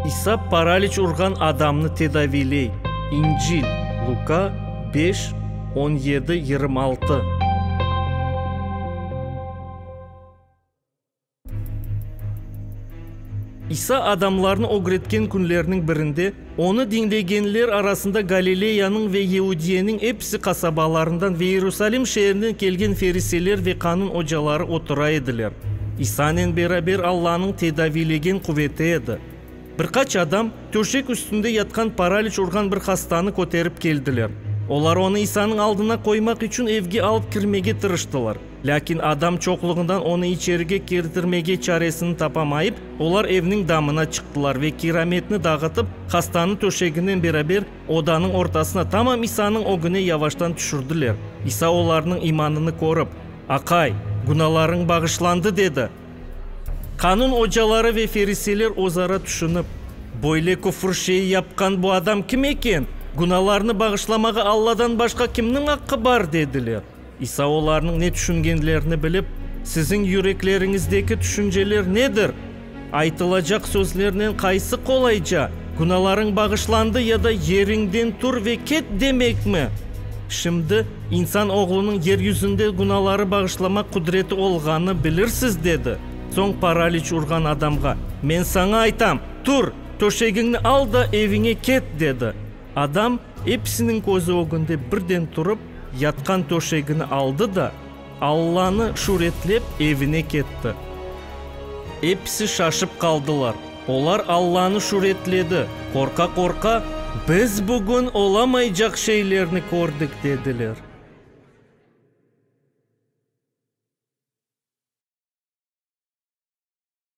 İsa paraliç urğan adamnı tedaviyley, İncil, Luka, beş, on yedi, yirmi altı. İsa adamlarnı ögretken künlerniñ birinde Onı diñlegenler arasında Galileyanıñ ve Yeudiyeniñ episi qasabalarından ve İerusalim şeerinden kelgen feriseler ve qanun ocaları otura ediler. İsanen beraber Allanıñ tedaviylegen quveti edi. Bir qaç adam töşek üstünde yatqan paraliç urğan bir hastanı köterip keldiler. Olar onı İsanıñ aldına qoymaq içün evge alıp kirmege tırıştılar. Lâkin adam çoqluğından onı içerige kirdirmege çaresini tapamayıp, olar evniñ damına çıqtılar ve kirametni dağıtıp, hastanı töşeginen beraber odanıñ ortasına, tamam İsanıñ ögüne yavaştan tüşürdiler. İsa olarnıñ imanını körip, Aqay, günahlarıñ bağışlandı, dedi. Qanun ocaları ve feriseyler özara tüşünip, Böyle küfür şeyi yapqan bu adam kim eken? Günahlarnı bağışlamağa Alladan başqa kimniñ aqqı bar? dediler. İsa olarnıñ ne tüşüngenlerini bilip, Siziñ yürekleriñizdeki tüşünceler nedir? Aytılacaq sözlernen qaysı qolayca, Günalarıñ bağışlandı ya da Yeriñden tur ve ket demekmi? Şimdi insan Oğlunıñ yer yüzünde günaları bağışlamaq qudreti olğanı bilirsiz, dedi. Soñ paraliç urğan adamğa, Men saña aytam, tur, töşegiñni al da eviñe ket, dedi. Adam episiniñ közü ögünde birden turıp, yatqan töşegini aldı da, Allanı şüretlep, evine ketti. Episi şaşıp qaldılar. Olar Allanı şüretledi, qorqa-qorqa, Biz bugün olamaycaq şeylerni kördik, dediler.